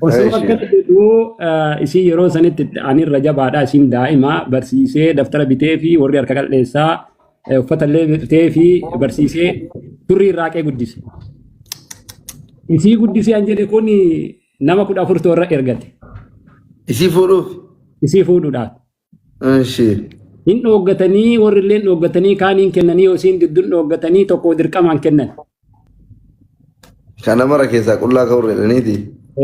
Osoo Eeshi. akkana jedhu eh, isin yeroo sanitti ani irra jabaadha isin daa'ima barsiisee daftara bitee fi warri harka qal'eessaa eh, uffata illee bitee fi barsiisee turrii irraa qee guddise. Isii guddisee an jedhe kun nama kudha afur toorra ergate. Isii fuudhuuf. Isii fuudhuudhaaf. Eshi. Hin dhooggatanii warri illee hin dhooggatanii kaaniin kennanii yookiin gidduun dhooggatanii tokko dirqamaan kennan. Kana mara keessaa qullaa ka'uu jedhaniiti.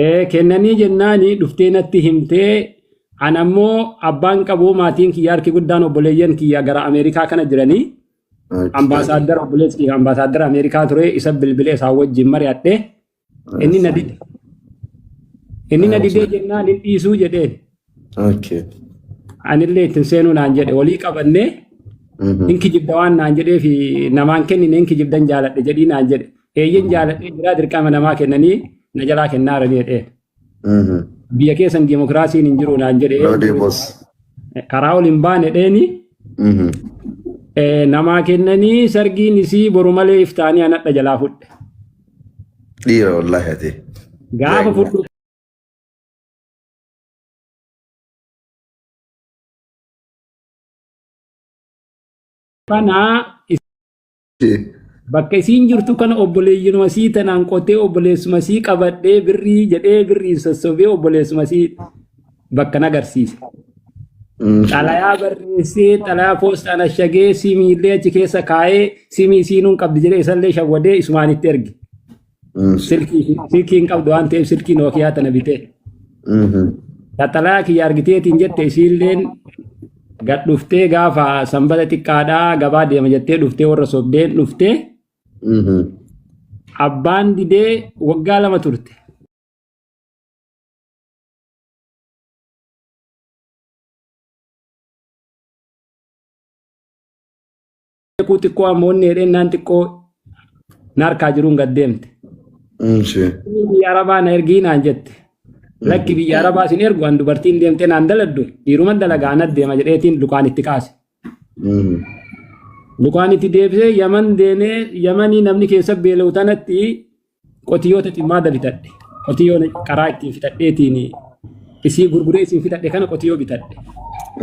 Ee, Kennanii jennaani dhuftee natti himtee an ammoo abbaan qabuu maatiin kiyya harki guddaan obboleeyyan kiyya gara Ameerikaa kana jiranii ambaasaaddara obboleessi kiyya ambaasaaddara Ameerikaa ture isa bilbilee isaa wajjin mari'adhe Inni na dide. Inni na didee jennaan hin dhiisuu jedheen. Okay. Anillee ittiin seenuu naan jedhe walii qabannee Mhm. hin kijibda waan naan jedhee fi namaan kennine hin kijibdan jaaladhe jedhii naan jedhe. Eeyyen jaaladhee jiraa dirqama namaa kennanii na jalaa kennaa jiranii jedheen. Biyya keessan dimokiraasiin hin jiru naan jedhe. No demos. Karaa ol hin baane dheeni. Namaa kennanii sargiin isii boru malee iftaanii anadha jalaa fudhe. Dhiira wallaahi ati. Gaafa fudhu kanaa Bakka isiin jirtu kana obboleeyyinuma sii tanaan qotee obboleessuma sii qabadhee birrii jedhee birriin sossobee obboleessuma sii bakka na agarsiise. Xalayaa barreessee xalayaa poostaan ashagee simiillee achi keessa kaa'ee simii isiinuun qabdi jedhee isallee shawwadee isumaan itti erge. Silkii silkii hin qabdu waan ta'eef silkii Nookiyaa tana bitee. Taxalaa kiyya argiteetiin jette isiilleen gad dhuftee gaafa sanbata xiqqaadhaa gabaa deema jettee dhuftee warra sobdeen dhuftee abbaan didee waggaa lama turte. beekuu xiqqoo amma onni jedheen naan xiqqoo na harkaa jiruun gad deemte. Ishee. Biyya Arabaa na ergii naan jette. Lakki biyya Arabaa sin ergu an dubartiin deemtee naan daladdu dhiiruman dalagaa anat deema jedheetiin lukaan itti kaase. Lukaan itti deebisee yaman deemee yamanii namni keessa beela'u tanatti qotiyyootatti maada bitadhe qotiyyoo qaraa ittiin fixadheetiin isii gurguree isin fixadhe kana qotiyyoo bitadhe.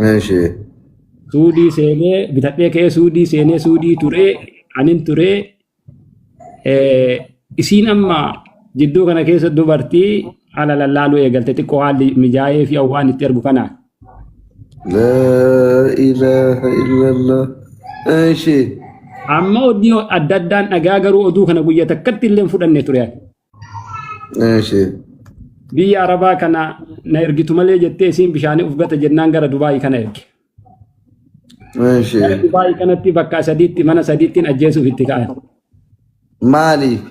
Eeshi. Suudii seenee bitadhee ka'ee suudii seenee suudii turee anin turee eh, isiin amma jidduu kana keessa dubartii ala lallaaluu eegalte xiqqoo haalli mijaa'ee fi hawwaan itti ergu kanaan. laa ilaaha illallah eeshi Amma odii adda addaan dhagaa garuu oduu kana guyya takkatti illee hin fudhanne ture. eeshi Biyya Arabaa kana na ergitu malee jettee isiin bishaanii of gata jennaan gara Dubaayii kana erge. eeshi Dubaayii kanatti bakka sadiitti mana sadiittiin ajjeesuuf itti ka'an. Maaliif?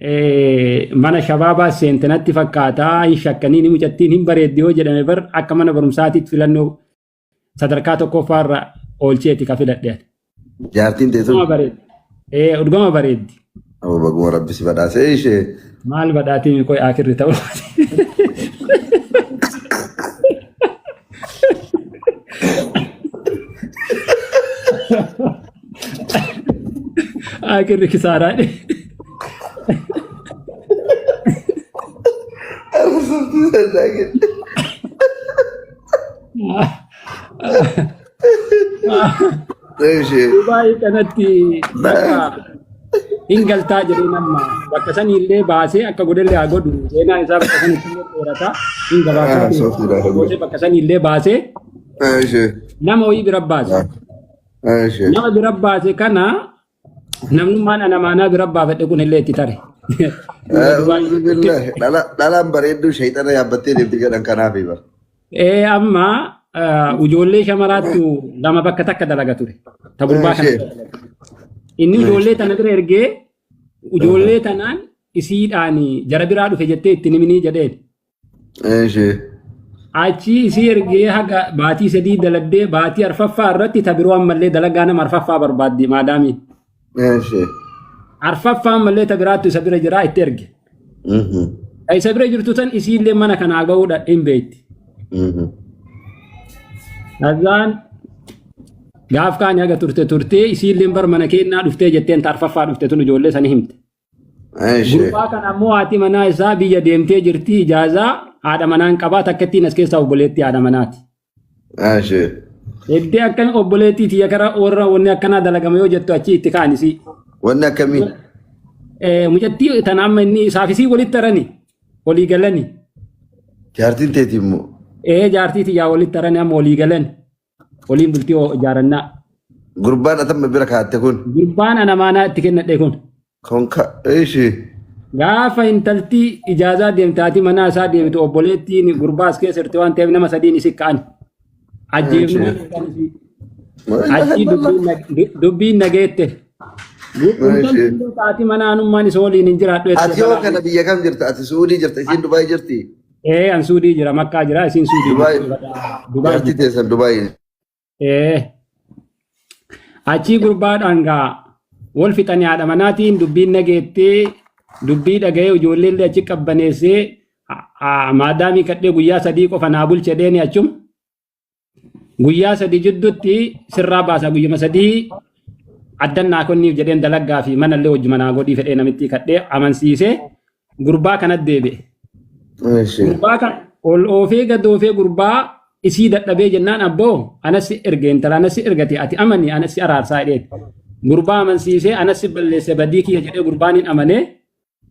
Eh, mana shabaabaa seente natti fakkaata hin shakkaniin mucattiin hin bareeddi yoo jedhame bar akka mana barumsaatiitti filannoo sadarkaa tokkoffaarra oolcheeti ka filadhe. Jaartiin tee sun Dhugama bareeddi. Eh, dhugama bareeddi. Aboo baguma rabbi si badhaasee ishee. Maal badhaatiin qoy akirri ta'u. Aakirri kisaaraa dhe. Dubaayii kanatti bakka hin galtaa jedhee nama bakka sanii illee baasee akka godhellee haa godhu seenaa isaa bakka sanitti illee dheerataa hin Ah, gabaabsatu. sooftiidha. Gootee bakka sanii illee baasee nama wayii bira baase. Eesh. Nama bira baase kana namnummaan ana maanaa bira baafadhe kun illee itti tare. Uuzu billahi. Dhala- Dhalaan bareedduu shayxana yaabbattee deemti jedhan kanaafi bara. Ee amma ah, ijoollee shamaraattu lama bakka takka dalaga ture. Ta gurbaa kana. Eesh. Inni ijoollee tana bira ergee ijoollee tanaan isiidhaan jara biraa dhufe jettee itti niminii jedheen. Eeshee. Achii isii ergee haga baatii sadii daladdee baatii arfaffaa irratti ta biroo ammallee dalagaa nama arfaffaa barbaaddi maadaamii. Eeshee. Arfaffaa ammallee ta biraattu isa bira jiraa itti erge. Ta isa bira jirtu san isiillee mana kanaa ga'uudha hin beekti. Azaan gaaf kaani haga turte turtee isiilleen bar mana keennaa dhuftee jetteen ta arfaffaa dhufte tun ijoollee sani himte. Eesh. Gurbaa kana ammoo haati manaa isaa biyya deemtee jirti ijaazaa haadha manaan qabaa takka ittiin as keessaa obboleettii haadha manaati. Eesh. Eddee akka obboleettii tiyya kara warra wanni akkanaa dalagama yoo jettu achi itti kaanisi. Wanni akkamii? Eh, Mucattii tana amma inni saafisii walitti tarani walii galani. Jaartiin teeti immoo. Eh jaartii tiyyaa walitti tarani amma walii galani. Waliin bultii oo ijaarannaa. Gurbaan atamma bira kaatte kun. Gurbaan ana maanaa itti kennadhe kun. Konka. Ishi. Gaafa intaltii ijaazaa deemtaati manaa isaa deemtu obboleettiin gurbaa as keessa jirti waan ta'eef nama sadiin isi ka'an. Ajjeefnee achii dubbiin na- du- dubbiin nageette. Intalti illee taati mana anummaan isa waliin hin jiraadhu. Ati yoo kana biyya kam jirta? Ati Suudii jirta? Isiin Dubaay jirti? Ee an suudii jira makkaa jira isin suudii Dubaay jirtu. Dubaay jaartii jirtu. teessan Dubaay Ee achii gurbaadhaan gaa wal fixanii haadha manaatiin dubbiin nageettee dubbii dhaga'ee ijoollee illee achi qabbaneessee maadaamii kadhee guyyaa sadii qofa naa bulchedheeni achum. guyyaa sadii jidduutti sirraa baasaa guyyuma sadii addan naa kenniif jedheen dalagaa fi mana illee wajjuma naa godhii fedhee namittii kadhee amansiisee gurbaa kanatti deebi'e. Eeshi. Gurbaa kan ol oofee gad oofee gurbaa isii dadhabee jennaan abboo anas si erge intala anas si ergate ati amani anas si araarsaa jedheen. Gurbaa amansiisee anas si balleesse badii kiyya jedhee gurbaan hin amanee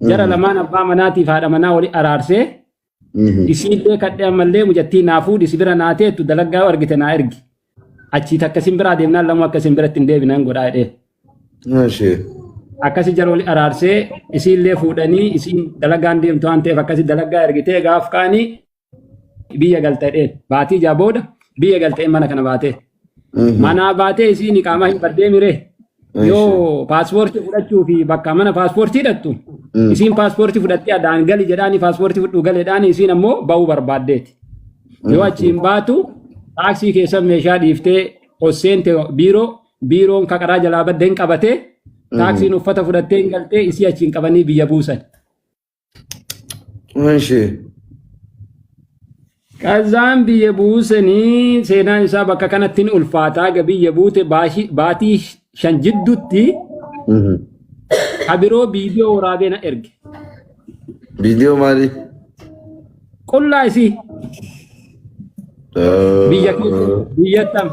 jara lamaan abbaa manaatiif haadha manaa wali araarsee Isii illee kadhee ammallee mucattii naa fuudhi si bira naa teettu dalagaa argite naa ergi. Achii takka isin biraa deemnaan lamuu akka isin biratti hin deebinaan godhaa jedhee. Maashee. Akkasi jara wali araarsee isii illee fuudhanii isiin dalagaan deemtu waan ta'eef akkasi dalagaa ergitee gaaf kaanii biyya galta jedheen. Baatii ijaa booda biyya galta jedheen mana kana baatee. Mhm. Manaa baatee isiin iqaamaa hin baddee miree. Eeshi. Yoo paaspoortii fudhachuu fi bakka mana paaspoortii hidhattu Mm. isiin paaspoortii fudhattee adaan gali jedhaani paaspoortii fudhuu galeedhaani isiin ammoo ba'uu barbaaddeeti. Yoo achi hin baatu taaksii keessa meeshaa dhiiftee osseente biiroo biiroon kaqaraa jalaa badde hin qabatee taaksiin uffata fudhattee hin galtee isii achi hin qabanii biyya buusan. እሺ Qazaan biyya buusanii seenaan isaa bakka kanatti ni ulfaataa egaa biyya buute baashi- baatii shan jidduutti Mhm. abiroo viidiyoo waraabee na erge. viidiyoo maali Qullaa isii biyya biyyattam.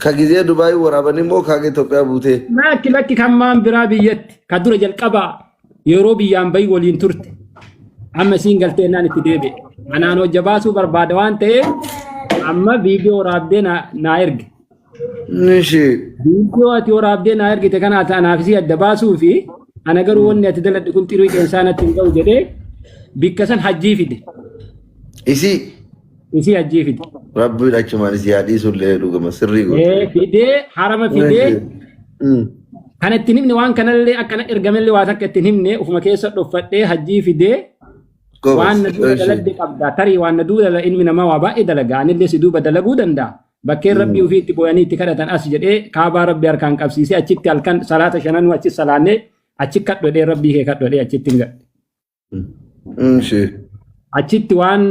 ka gizee dubaayii waraabanii moo kaa Itoophiyaa buutee Lakki lakki kan maan biraa biyyatti ka dura jalqabaa Yeroo biyyaan bahi waliin turte. Amma isiin galtee naan itti deebi'e. Anaan hojja baasuu barbaada waan ta'eef amma viidiyoo waraabdee naa naa erge. Nishi. Viidiyoo ati waraabdee naa ergite kana ati anaaf isii adda baasuu fi ana garuu wanni ati daladhu kun xirii qeensaa natti hin ga'u jedhee bikka san hajjii fide. Isi. Isii hajjii fide. Rabbiin achumaan si haa dhiisu illee dhugama sirrii Ee, goote. Fidee harama fidee Mm. kan ittiin himne waan kanallee akkana ergamellee waa takka ittiin himne ofuma keessa dhoffadhee hajjii fidee Goobas. waan na duuba Ishee. dalagde qabda tarii waan na duuba dala ilmi namaa waa baay'ee dalaga anillee si duuba dalaguu danda'a bakkeen rabbii ofii itti booyanii itti kadhatan as jedhee kaabaa rabbii harkaan qabsiisee achitti halkan salaata shananuu achi salaannee achi kadhodhee rabbii kee kadhodhee achitti hin gadhe. Ishee. Achitti waan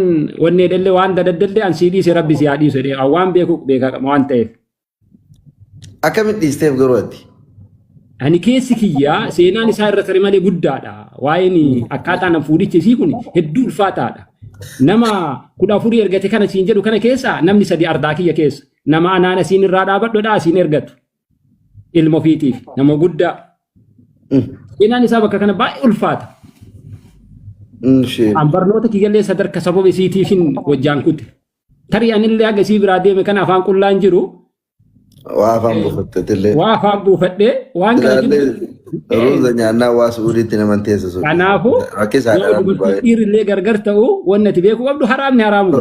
wanni edelle waan dadaddalle an sii dhiise rabbi si haa dhiisu jedhee an waan beeku beekaa qaba waan ta'eef. Akkamitti dhiisteef garuu ati? Ani keessi kiyyaa seenaan isaa irra tarii malee guddaadha. Waa'een akkaataa nan fuudhichi isii kun hedduu ulfaataadha. Nama kudha afurii ergate kana siin jedhu kana keessa namni sadi ardaa kiyya keessa. Nama anaan asiin irraa dhaabadhodha asiin ergatu. ilma ofiitiif nama guddaa seenaan isaa bakka kana baay'ee ulfaata. Ishee. An barnoota kiyyallee sadarka sababa isiitiifin wajjaan kute. Tarii anillee haga isii biraa deeme kana afaan qullaan jiru Waa afaan buufattetillee. waa afaan buufadhee waan kana jiru. Ilaallee ruuza nyaannaa waa su'uudiitti naman teessa sun. Kanaafuu Rakkisaa yoo dha dubartiin baay'ee. dhiirri illee gargar ta'u wanni ati beekuu qabdu haraamni haraamuma.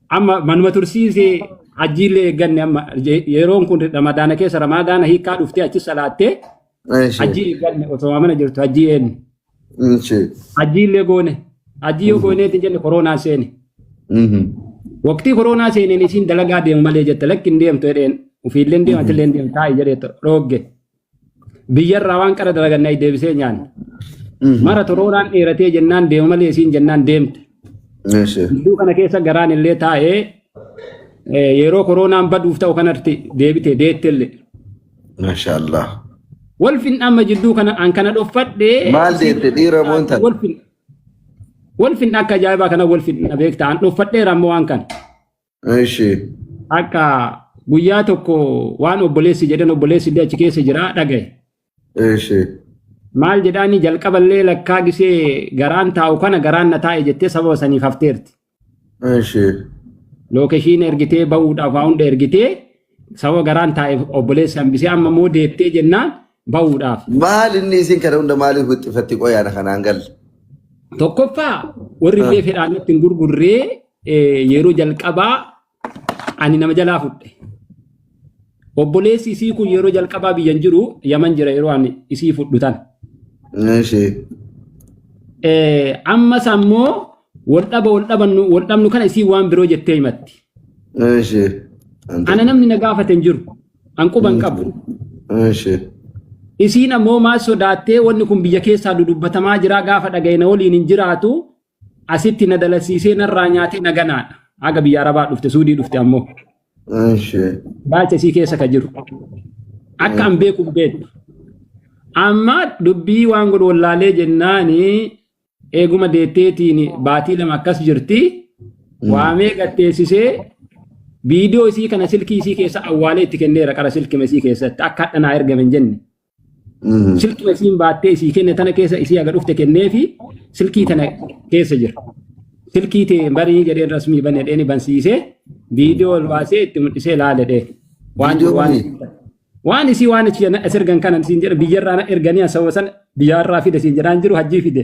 Amma manuma tursiise hajjiillee eegganne amma je- yeroon kun ramadaana keessa ramadaana hiikaa dhuftee achi salaattee Eeshi. hajjii eegganne osoo mana jirtu hajjii eenne. Eeshi. Hajjiillee goone. Hajjii yoo gooneetti jenne koronaan seene. Mhm. Waqtii koronaa seeneen isiin dalagaa deemu malee jette lakki hin deemtu jedheen ofiillee hin deemtu illee hin deemtu taa'i jedhee dhoogge. Biyyarraa waan qara dalaganne ayi deebisee nyaanne. Mara torooraan dheeratee jennaan deema malee isiin jennaan deemte. Eeshe. Gidduu kana keessa garaan illee taa'ee eh, yeroo koroonaan baduuf ta'u kanatti deebite deette illee. Masha Allah. Walfin amma jidduu kana an kana dhoffadhee. Maal deette dhiira moo intal? Walfin. Walfin akka ajaa'ibaa kana walfin na beekta an dhoffadheera amma waan kana. Ishi. Akka guyyaa tokko waan obboleessi jedhan obboleessi illee achi keessa jira dhagaye. Ishi. Maal jedhaanii jalqaballee lakkaa gisee garaan taa'u kana garaan na taa'e jettee sababa saniif hafteerti. Ishi. Lookeshiin ergitee bahuudhaaf waa hunda ergitee sababa garaan taa'eef obboleessi hambisee amma immoo deettee jennaan bahuudhaaf. Maal inni isin kana hunda maaliif wixxifatti qoyaana kanaan galle? Tokkoffaa warri illee fedhaan natti hin gurgurree Eh, Yeroo jalqabaa ani nama jalaa fudhe. Obboleessi isii kun yeroo jalqabaa biyyan jiru yaman jira yeroo ani isii fudhu tan. Eeshi. Eh, Ammas ammoo wal dhaba wal dhabannu wal dhabnu kana isii waan biroo jettee himatti. Eeshi. Ana namni na gaafate hin jiru. An quba hin qabu. Eeshi. Isiin ammoo maal sodaattee wanni kun biyya keessaa dudubbatamaa jira gaafa dhaga'e na waliin hin jiraatu asitti na dalasiisee narraa nyaatee na ganaadha. Haga biyya Arabaa dhufte Suudii dhufte ammoo Eshi. baacha isii keessa ka jiru. Akka an beeku hin beektu. Amma dubbii waan godhu wallaalee jennaani eeguma deetteetiin baatii lama akkas jirti. Waamee gatteessisee viidiyoo isii kana silkii isii keessa awwaalee itti kenneera qara silkima isii keessatti akka hadha naa ergame hin jenne. Silkii isiin baattee isii kenne tana keessa isii haga dhufte kennee fi silkii tana keessa jira. Silkii tee barii jedheen rasmii bane dheeni bansiisee viidiyoo ol baasee itti mul'isee laale dhee. Waan Viidiyoo waan waliin? waan isii waan achi jana as ergan kanan siin jedha biyyarraa na erganii asawwa sana biyyaarraa fide siin jedhaan jiru hajjii fide.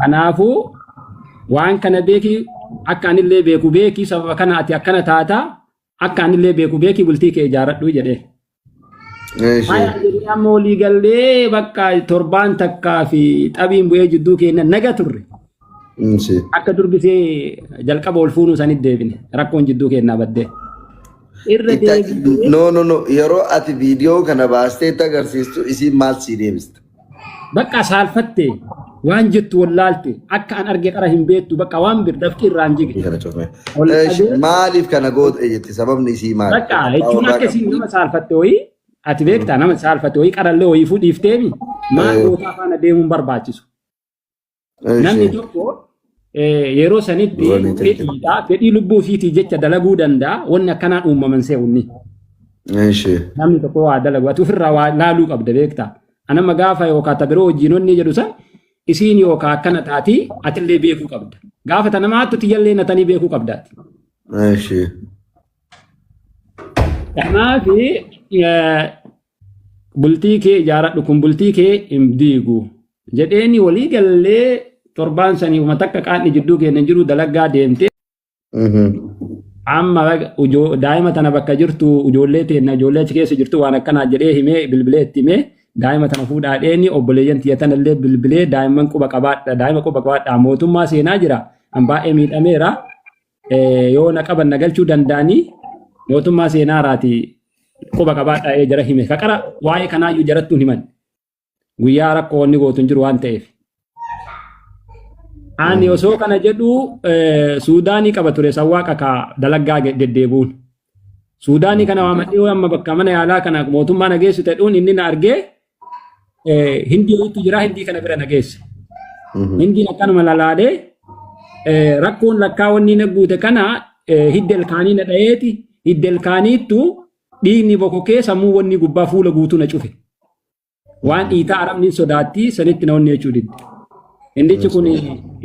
Kanaafuu waan kana beeki akka anillee beeku beeki sababa kana ati akkana taata akka anillee beeku beeki bultii kee ijaaradhu jedhee. Haya jedhee amma olii gallee bakka torbaan takkaa fi xabiin bu'ee jidduu keenya naga turre. Akka durbisee jalqaba ol fuunuu sanitti deebine rakkoon jidduu keenyaa baddee. Irra deebine. No, no, no. Yeroo ati viidiyoo kana baastee itti agarsiistu isiin maal sii deebista? Baqqa saalfatte waan jettu wallaalte akka an arge qara hin beektu baqqa waan bir dafqi irraan jige. Kana cufee. Ol Eh, qabee- sh- Maaliif kana goote jetti sababni isii maali? Baqqa jechuun akka isin nama saalfatte wayii ati beektaa nama saalfatte wayii qarallee wayii fuudhiifteemi maal Eh. gootaa faana deemuun barbaachisu. Namni tokko yeroo sanitti fedhiidha. Fedhii lubbuu ofiitii jecha dalaguu danda'a. Wanni akkanaan uumaman se'unni. Namni tokko waa dalagu. Ati ofirraa waa laaluu qabda beektaa. Anamma gaafa yookaan ta biroo wajjin onni jedhu san isiin yookaan akkana taatii atillee beekuu qabda. Gaafa ta nama hattu tiyyallee natanii beekuu qabdaati. Kanaaf Bultii kee ijaaradhu kun bultii kee hin diigu jedheeni walii gallee torbaan sanii uma takka qaanni jidduu keenya jiru dalagaa deemte. Amma daa'ima tana bakka jirtu ijoollee teenna ijoollee achi keessa jirtu waan akkanaa jedhee himee bilbilee itti himee daa'ima tana fuudhaa dheeni obboleeyyan tiyya tana illee bilbilee daa'imman quba qabaadha daa'ima quba qabaadha mootummaa seenaa jira an baay'ee miidhameera. eh, yoo na qaban na galchuu danda'anii mootummaa seenaa irraati quba qabaadhaa ee jara hime kaqara waa'ee kanaayyuu jarattuun himan guyyaa rakkoo wanni gootu hin jiru waan ta'eef. Ani osoo kana jedhu eh, Suudaanii qaba ture sawwaaqa ka dalaggaa ge- deddeebi'uun. Suudaanii kana waamadhee yoo amma bakka mana yaalaa kana mootummaa na geessu ta'uun inni na argee eh, hindii ho'iitu jira hindii kana bira na geesse. Hindiin akkanuma lalaalee eh, rakkoon lakkaa wanni na guute kana eh, hidda ilkaanii na dhayeeti hidda ilkaaniittu dhiigni bokokee sammuu wanni gubbaa fuula guutuu na cufe. Waan dhiitaa arabni hin sodaatti sanitti na onnee jechuu didde. Indichi kun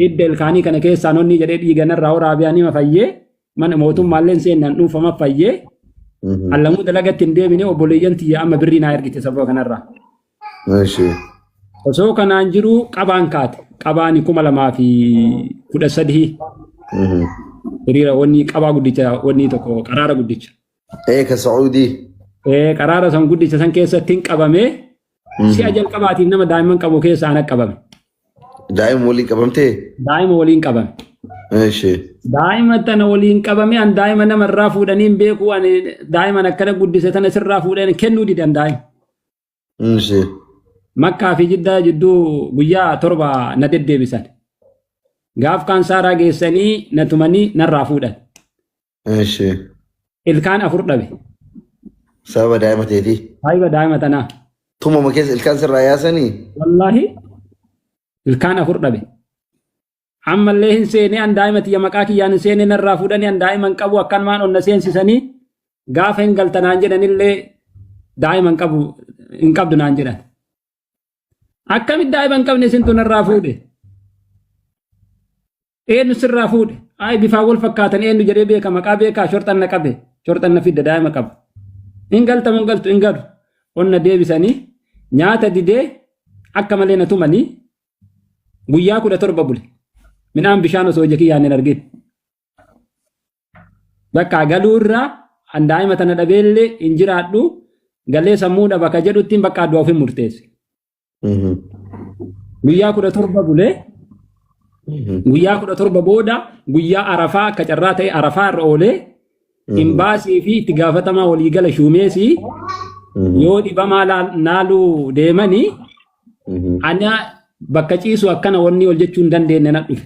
hidda ilkaanii kana keessaa nonni jedhee dhiiga narraa waraabee anima fayyee mana mootummaalleen seenaan dhuunfama fayyee Mhm. allamuu dalagatti hin deemine obboleeyyan tiyya amma birrii naa ergite sababa kanarraa. Eshi. Osoo kanaan jiru qabaan kaate. Qabaani kuma lamaa fi kudha sadii Mhm. hiriira wanni qabaa guddicha wanni tokko qaraara guddicha. Ee ka Sacuudii. Eh, qaraara san guddicha san keessatti hin qabame si'a jalqabaatiif nama daa'imman qabu keessa ana qabame Daa'ima waliin qabamtee? daa'ima waliin qabame Eeshi. daa'ima tana waliin qabame an daa'ima nama irraa fuudhanii hin beeku ani daa'iman akkana guddise tana sirraa fuudhanii kennuu didan daa'ima Eeshi. makkaa fi jiddaa jidduu guyyaa torba na deddeebisan gaaf kaan saaraa geessanii na tumanii narraa fuudhan Eshi. Ilkaan afur dhabe. Sababa daa'ima teetii. Saahiba daa'ima tanaa. Tumuma keessa ilkaan sirraa yaasanii. Wallaahi ilkaan afur dhabe. Ammallee hin seene an daa'ima tiyya maqaa kiyyaan hin seene narraa fuudhanii an daa'ima hin qabu akkan maan onna seensisanii gaafa hin galtanaan jedhanillee daa'ima hin qabu hin qabdu naan jedhan. Akkamitti daa'ima hin qabne isintu narraa fuudhe? Eenyu sirraa fuudhe? Ayi bifaan wal fakkaatan eenyu jedhee beeka maqaa beekaa shorxan na qabe shorxan na fidda daa'ima qaba. Hin galtamu hin galtu hin galu. Onna deebisanii nyaata didee akka malee na tumanii guyyaa kudha torba bule. Midhaan bishaan osoo ija kiyyaan hin argin. Bakka galuu irraa an daa'ima tana dhabeellee hin jiraadhu galee sammuu dhaba ka jedhuttiin bakka du'a ofin murteesse. Guyyaa kudha torba bulee guyyaa kudha torba booda guyyaa arafaa akka carraa ta'e arafaa irra oolee imbaasii fi itti gaafatamaa waliigala shuumeesii yoo dhibamaa laa- naaluu deemanii ana bakka ciisu akkana wanni ol jechuu hin dandeenye na dhufe.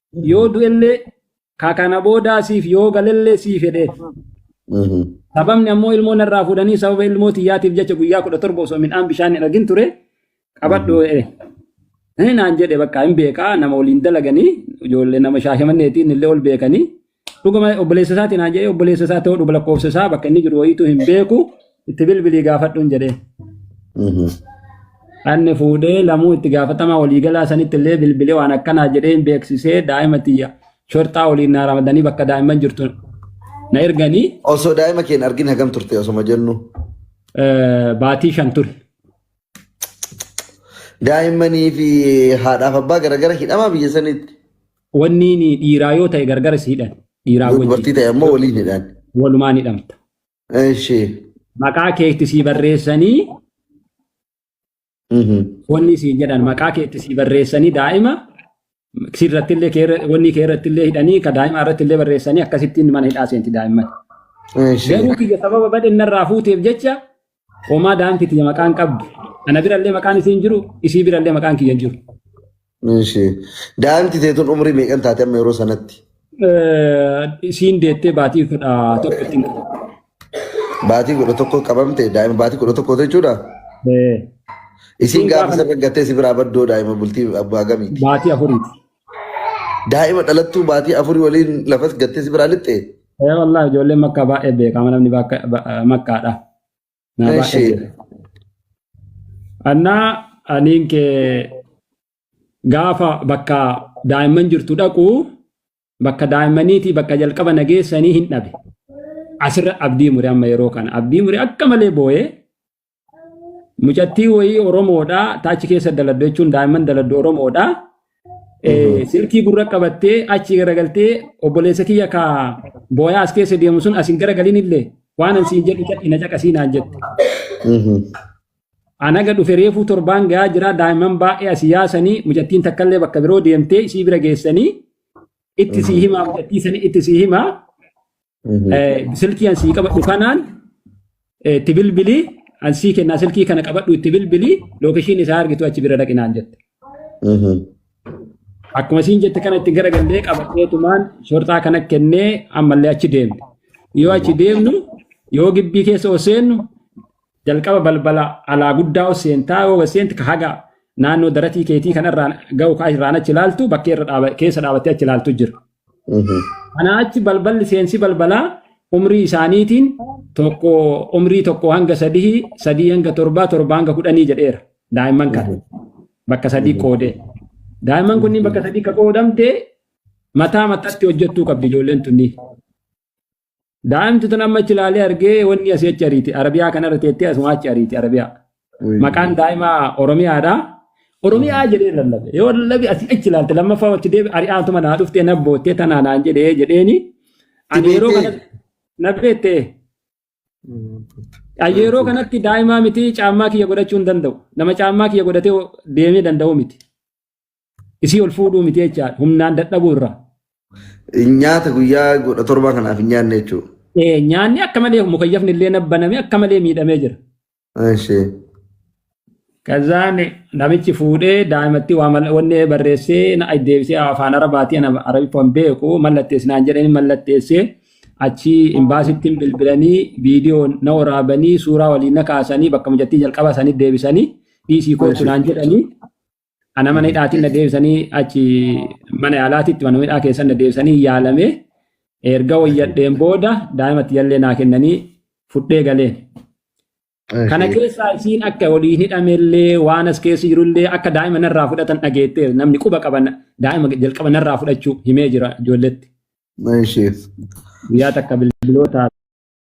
yoo du'ellee ka kana boodaa siif yoo galellee sii fedheef. Sababni ammoo ilmoo narraa fuudhanii sababa ilmoo tiyyaatiif jecha guyyaa kudha torba osoo midhaan bishaan hin argin ture qabadhu jedhe. Inni naan jedhe bakka hin beekaa nama waliin dalaganii ijoollee nama shaashamanneetiin illee ol beekanii. Dhuguma obboleessa isaatiin haa jedhee obboleessa isaa ta'uu dhuga lakkoofsa isaa bakka inni jiru wayiitu hin beeku itti bilbilii gaafadhuun jedhee. Anni fuudhee lamuu itti gaafatamaa waliigalaa sanitti illee bilbilee waan akkanaa jedhee hin beeksisee daa'ima tiyya shorxaa waliin naa ramadanii bakka daa'imman jirtu na erganii Osoo daa'ima keen argin hagam turte osoma jennu. eh, baatii shan ture. Daa'immanii fi haadhaaf abbaa garagara hidhamaa biyya sanitti. Wanni ni dhiiraa yoo ta'e gargara si hidhan. Dhiiraa Yoo wajjin dubartii ta'e ammoo waliin hidhaan. walumaan hidhamta. Ishee. Maqaa keetti sii barreessanii Mhm. wanni siin jedhan maqaa keetti sii barreessanii daa'ima sirrattillee kee irra- wanni kee irrattillee hidhanii ka daa'ima irrattillee barreessanii akkasittiin mana hidhaa seenti daa'imman. Ishee. Garuu kiyya sababa badhennarraa fuuteef jecha Homaa daanti tiyya maqaan qabdu. Ana birallee maqaan isii hin jiru, isii birallee maqaan kiyya hin jiru. Ishi. Daanti teetun umrii meeqan taate amma yeroo sanatti? Eh, Isiin deettee baatii kudha tokko ittiin qabu. Baatii kudha tokko qabamte daa'ima baatii kudha tokko jechuudha. Eh, Isiin Isiin gaafa gaafa- sana gattee si biraa baddoo daa'ima bultii abbaa gamiiti. Baatii afuriiti. Daa'ima dhalattuu baatii afurii waliin lafas gattee si biraa lixxee? Ee wallah ijoolleen makkaa baay'ee beekama namni bakka- ba- makkaadha. Naa baay'ee Eshi. beekama. Annaa aniin kee gaafa bakka daa'imman jirtu dhaqu bakka daa'immaniitii bakka jalqaba nageessanii hin dhabe. Asirra abdii mure amma yeroo kana abdii mure akka malee booyee mucattii wayii Oromoodha taachi keessa daladdu jechuun daa'imman daladdu Oromoodha. Eh, Silkii gurra qabattee achi garagaltee obboleessa kiyya ka booyaa as keessa deemu sun asin garagalin illee waan an siin jedhu cadhi na caqasii naan jette. Anaga dhufe reefuu torbaan gahaa jira daa'imman baay'ee asii yaasanii mucattiin takkallee bakka biroo deemtee isii bira geessanii itti sii himaa mucattii sanii itti sii himaa Eh, silkii an sii qabadhu kanaan eh, itti bilbilii an sii kennaa silkii kana qabadhu itti bilbilii lookeshiin isaa argitu achi bira dhaqinaan jette. Akkuma siin jette kana itti garagallee qabateetumaan shorxaa kana kennee ammallee achi deemte. Yoo achi deemnu yoo gibbii keessa ol seennu jalqaba balbala alaa guddaa ol seentaa yoo ol seente ka haga naannoo daratii keetii kanarraan ga'u kaa irraan achi ilaaltu bakkee irra dhaaba- keessa dhaabattee achi ilaaltu jira. Kanaa achi balballi seensi balbalaa umrii isaaniitiin tokko umrii tokko hanga sadii sadii hanga torbaa torba hanga kudhanii jedheera daa'imman kana bakka sadii qoodee. Daa'imman kunniin bakka sadii ka qoodamte mataa mataatti hojjettuu qabdi ijoolleen tunniin. Daa'imti tun amma achi ilaalee argee wanni asii achi ariiti. Arabiyaa kanarra teettee asumaa achi ariiti Arabiyaa. Maqaan daa'imaa Oromiyaadha. Oromiyaa jedhee lallabe. Yoo lallabe asii achi ilaalte lammaffaa achi deebi ari'aatuma naa dhuftee na boottee tanaa naan jedhee jedheeni. Ani yeroo kana na beettee. Ani yeroo kanatti daa'imaa miti caammaa kiyya godhachuu hin danda'u. Nama caammaa kiyya godhatee deemee danda'u miti. Isii ol fuudhuu miti jechaadha. Humnaan dadhabuu irraa. Nyaata guyyaa kudha torbaa kanaaf hin nyaanne jechuudha. Eh, Nyaanni akka malee mukayyafni illee nabbaname akka malee miidhamee jira. Ishee. Kazaan namichi fuudhee daa'imatti waa mal- wanni barreessee na deebisee afaan arabaatiin ana arabiffaa hin beeku mallatteessinaan jedhanii mallatteessee achi imbaasitti bilbilanii viidiyoo na waraabanii suuraa waliin na kaasanii bakka mijattii jalqaba sanii deebisanii dhiisii kootu naan jedhanii Ana mana hidhaatiin na deebisanii achi mana yaalaatitti mana hidhaa keessan na deebisanii yaalamee erga wayyadheen booda daa'imatti jallee naa kennanii fudhee galeen. Kana keessaa isiin akka waliin hidhamellee waan as keessa jirullee akka daa'ima narraa fudhatan dhageettee namni quba qaban daa'ima jalqaba narraa fudhachuu himee jira ijoolletti. Guyyaa takka bilbilootaa